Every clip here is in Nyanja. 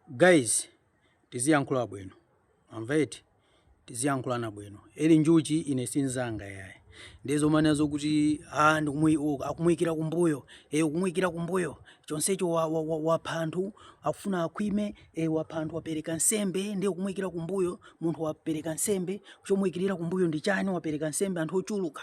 Guys tiziyankhula bwino mwamva eti tiziyankhulana bwino eli njuchi ine sinzanga yaye ndiye zomanena zoti ah, akumuyikira kumbuyo e, ukumuyikira kumbuyo chonsecho wapha anthu akufuna akhwime e, wapha anthu wapereka nsembe ndiye ukumuyikira kumbuyo munthu wapereka nsembe chomuyikirira kumbuyo ndi chani wapereka nsembe anthu ochuluka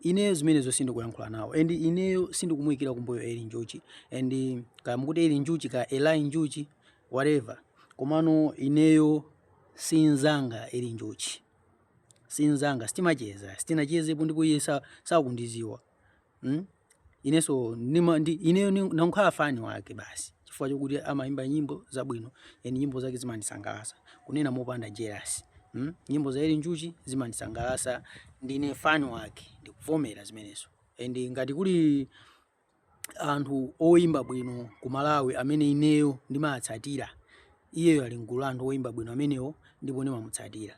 Ineyo zimenezo sindikuyankhula nawo and ineyo sindikumuikira kumbuyo Eli Njuchi and kaya mukuti Eli Njuchi kaya Eli Njuchi whatever, komano ineyo sinzanga Eli Njuchi sinzanga, sitimacheza sitinachezepo ndipo iye sakundiziwa hmm? Ineso nima, ndi, ineyo ndakhala fani wake basi chifukwa chokuti amaimba nyimbo zabwino and nyimbo zake zimandisangalasa kunena mopanda jealous hmm? Nyimbo za Eli Njuchi zimandisangalasa ndine fan wake ndikuvomera zimenezo and ngati kuli anthu oyimba bwino ku Malawi amene ineyo ndimatsatira iyeyo ali mgulu la anthu oyimba bwino amenewo ndipo ndimamutsatira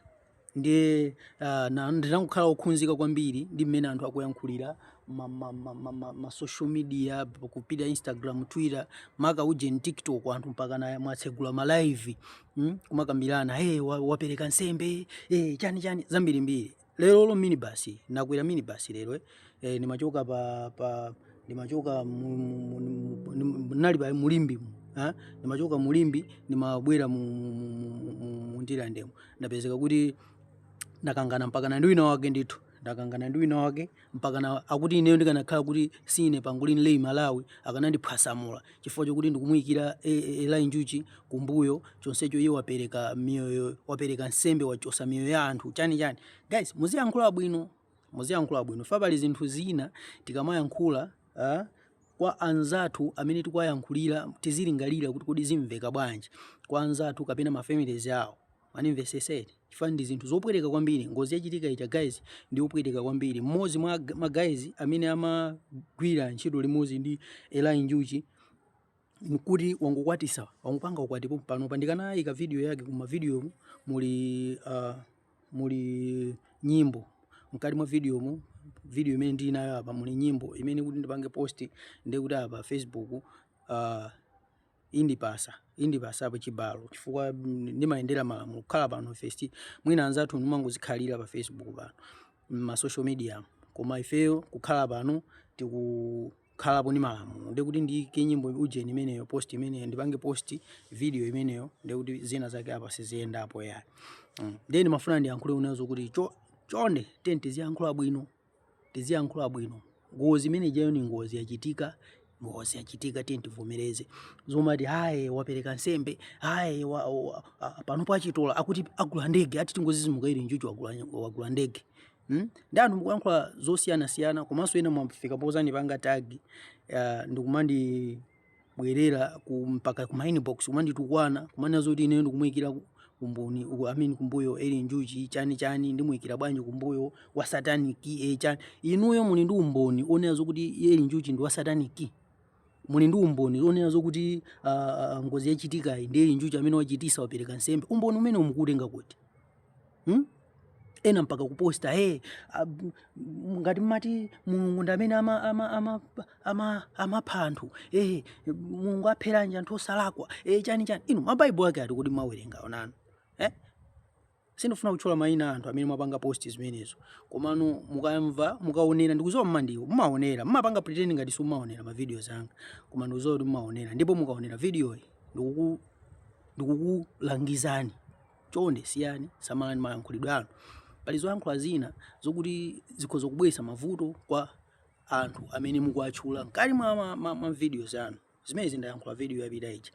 ndiye uh, ndikukhala okhudzika kwambiri ndi mmene anthu akuyankhulira ma, ma, ma, ma, ma, ma social media kupita instagram twitter makamaka ujeni tiktok anthu mpakana mumatsegula ma live mm? kumakambirana hey, wa, wapereka nsembe hey, chani chani zambirimbiri lero olo minibus nakwera minibus lero eh, eh ndimachoka pa, pa ndimachoka ndinali pa mu Limbe eh? ndimachoka mu Limbe ndimabwera mu Ndirandemo ndapezeka kuti ndakangana mpakana ndi wina wake ndithu ndakangana ndi wina wake mpakana akuti ineyo ndikanakhala kuti siine pangolin Rey Malawi akanandiphwasamula chifukwa chokuti ndikumuyikira e- e- eli njuchi kumbuyo chonsecho iye wapereka miyoyo wapereka nsembe wachosa miyoyo ya anthu chani chani guys muziyankhula bwino muziyankhula bwino chifukwa pali zinthu zina tikamayankhula ah, kwa anzathu amene tikuwayankhulira tizilingalira kuti kodi zimveka bwanji kwa anzathu kapena mafamilies awo Mwandimvesesa eti? Chifukwa ndi zinthu zopweteka kwambiri. Ngozi yachitikayija guys ndi yopweteka kwambiri. Mmodzi mwa ma guys amene amagwira ntchito limodzi ndi Eli Njuchi nkuti wangokwatitsa wangopanga ukwati pompano pa ndikanayika video yake kuma video muli uh, muli nyimbo mkati mwa video mu video imene ndili nayo apa muli nyimbo imene kuti ndipange post ndi kuti apa Facebook uh, indipasa indipasa pa chibalo chifukwa mm, ndimayendera malamulo kukhala pano fes mwina anzathunu mumangozikhalira pa facebook pano ma social media mu. koma ifeyo kukhala pano tikukhalapo ndi malamulo ndikuti ndiyike nyimbo ujeni imeneyo post imeneyo ndipange post video imeneyo ndekuti zina zake apa siziyendapo yayi mm. nde ndimafuna ndiyankhule nazo zokuti cho chonde tiyeni tiziyankhula bwino tiziyankhula bwino ngozi imene ijayo ni ngozi yachitika ngozi yachitika tiye tivomereze zomati haye wapereka nsembe haye wa, wa, a, pano pachitola akuti agula ndege ati tingozizimuka eli njuchi wagula, wagula ndege Hmm? ndi anthu mukuyankhula zosiyanasiyana komanso ena mwafika pozandipanga tag uh, ndikumandi bwerera ku mpaka ku ma inbox kumanditukwana kumanena zoti ineyo ndikumuyikira ku- kumboni uku I mean kumbuyo eli njuchi chani chani ndimuyikira bwanji kumbuyo wa satanic e chani inuyo muli ndi umboni onena zokuti eli njuchi ndi wa satanic muli ndi umboni onena zokuti ah, ah, ngozi yachitikayi ndi eli njuchi amene wachitisa wapereka nsembe umboni umene mukuutenga kuti hmm? ena mpaka kuposta hey, ab- m- ngati mmati mulungu ndi amene amapha ama, ama, ama, amapha anthu hey, mulungu apheranji anthu osalakwa hey, chani chani inu mabaibulo ake ati kuti mmawerenga inu eh? sindifuna kutchula mayina a anthu amene mwapanga post zimenezo komano mukamva mukaonera ndikuziwa mmandiwo mumaonera mumapanga pretend ngati simumaonera ma videos anga koma ndikuziwa kuti mumaonera ndipo mukaonera videoyi ndikuku ndikukulangizani chonde siyani, samalani mayankhulidwe anu. Pali zoyankhula zina zokuti zikhoza kubweretsa mavuto kwa anthu amene mukuwatchula mkati mwa ma, ma, ma videos anu. Zimenezi ndayankhula video yapita ija.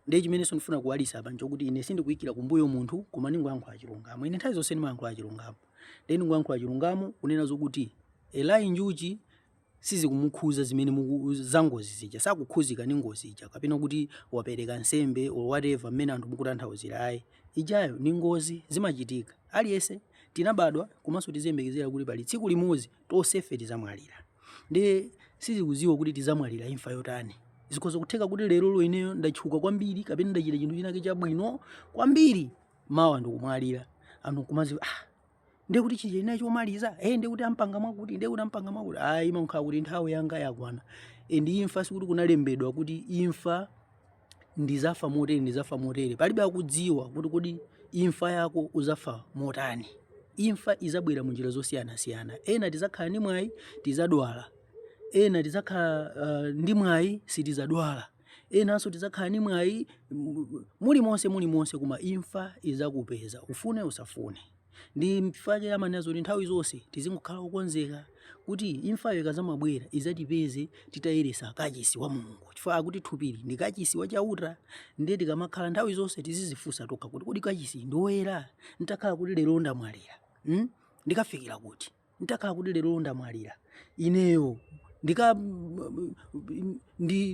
Ndiye chimenenso ndifuna kuwalitsa apa nchokuti ine sindikuyikira kumbuyo munthu koma ndingoyankhula chilungamo. Ine nthawi zonse ndimayankhula chilungamo. Ndiye ndingoyankhula chilungamo kunena zokuti Eli Njuchi sizikumukhuza zimene muku za ngozi zija sakukhuzidwa ndi ngozi ija kapena kuti wapereka nsembe or whatever mmene anthu mukutanthauzira ayi ijayo ndi ngozi zimachitika aliyense tinabadwa komanso tiziyembekezera kuti pali tsiku limodzi tonsefe tizamwalira and sizikuziwika kuti tizamwalira imfa yotani zikhoza kutheka kuti lero lo ineyo ndatchuka kwambiri kapena ndachita chinthu chinake chabwino kwambiri mawa ndikumwalira anthu kumaziwa ah ndiye kuti chija chinali chomaliza e ndiye kuti ampanga mwakuti ndiye kuti ampanga mwakuti ayi imakhala kuti nthawi yanga yakwana and imfa sikuti kunalembedwa kuti imfa ndizafa motere ndizafa motere palibe akudziwa kuti kodi imfa yako uzafa motani imfa izabwera mu njira zosiyanasiyana ena tizakhala ndi mwayi tizadwala ena tizakhala uh, ndi mwayi sitizadwala enanso tidzakhala ni mwayi mu- mulimonse mulimonse koma imfa idzakupeza ufune usafune ndi nchifukwa chake amanena zoti nthawi zonse tizingokhala okonzeka kuti imfayo ikazamabwera idzatipeze titayeresa kachisi wa mulungu chifukwa akuti thupili ndi kachisi wa chauta ndiye tikamakhala nthawi zonse tizizifunsa tokha kuti kodi kachisiyu ndi woyera ntakhala kuti lero ndamwalira mm? ndikafikira kuti ntakhala kuti lero ndamwalira ineyo ndi kandi,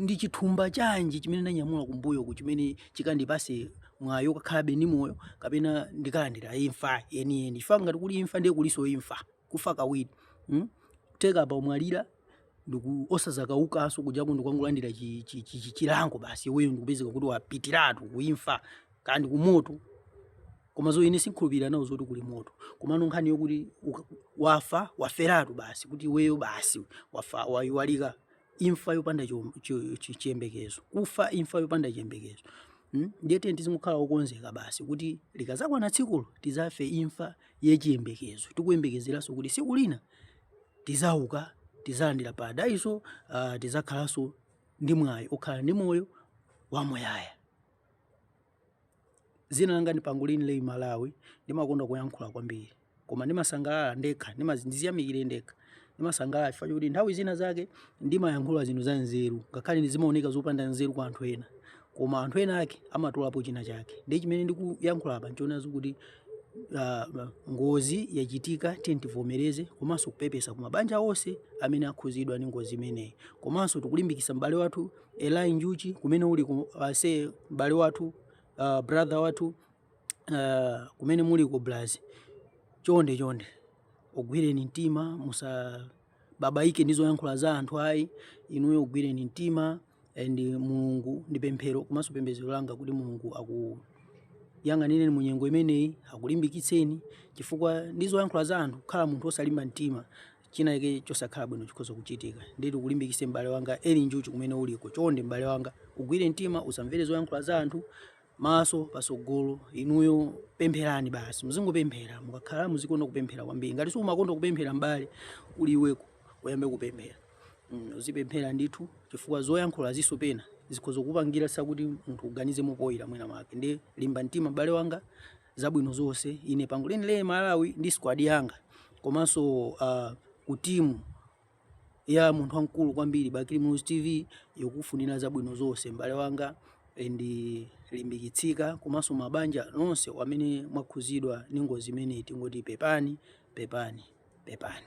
ndi chithumba chanji chimene ndanyamula kumbuyoku chimene chikandipase mwayi okakhalabe ndi moyo kapena ndikalandira imfa yeniyeni chifukwa ngati kuli imfa ndiye kuliso imfa kufa kawiri hmm? kutheka paumwalira osazakaukanso kujako ndikungolandira chi- chi- chi- chi- chilango basi iweyo ndikupezeka kuti wapitiratu kuimfa kaya ndi kumoto koma zo ine sinkhulupirira nawo zoti kuli moto komano nkhani yokuti uka- wafa waferatu basi kuti iweyo basi wafa wayiwalika imfa yopanda chom- chi- chi- chiyembekezo kufa imfa yopanda chiyembekezo Mm? ndiye tiye tizingokhala okonzeka basi kuti likazakwana tsikulo tizafe imfa yachiyembekezo tikuyembekezeranso kuti siku lina tizauka tizalandira paradiso uh, tizakhalanso ndi mwayi okhala ndi moyo wamuyaya zina langa ndi Pangolini Lei Malawi ndimakonda kuyankhula kwambiri koma ndimasangalala ndekha ndiziyamikire ndekha ndimasangalala chifukwa chokuti nthawi zina zake ndimayankhula zinthu za nzeru ngakhale zimaoneka zopanda nzeru kwa anthu ena koma anthu ena ake amatolapo china chake ndiye chimene ndikuyankhula apa nchonazo kuti uh, ngozi yachitika tiye tivomereze komanso kupepesa ku mabanja onse amene akhuzidwa ndi ngozi imeneyi komanso tikulimbikisa m'bale wathu Eli Njuchi kumene uli ku- ase m'bale wathu uh, brother wathu uh, kumene muli ku Brazil chonde chonde ugwireni mtima musababaike ndi zoyankhula za anthu ayi inuyo ugwireni mtima and mulungu ndi pemphero komanso pembedzero langa kuti mulungu akuyang'anireni mu nyengo imeneyi akulimbikitseni chifukwa ndi zoyankhula za anthu kukhala munthu osalimba mtima chinachake chosakhala bwino chikhoza kuchitika ndiye tikulimbikitse m'bale wanga Eli Njuchi kumene uliko chonde m'bale wanga ugwire mtima usamvere zoyankhula za anthu maso pasogolo inuyo pempherani basi muzingopemphera mukakhala muzikonda kupemphera kwambiri ngati siumakonda kupemphera mbale uli iwe uko uyambe kupemphera mm, uzipemphera ndithu chifukwa zoyankhulaziso pena zikhoza kupangisa kuti munthu uganize mopoyira mwina mwake ndiye limba mtima mbale wanga zabwino zonse ine Pangolini Lei Malawi ndi squad yanga komanso uh, ku timu ya munthu wamkulu kwambiri Bakili Muluzi TV tikukufunira zabwino zonse mbale wanga ndiye limbikitsika komanso mabanja nonse amene mwakhuzidwa ndi ngozi imeneyi tingoti pepani pepani pepani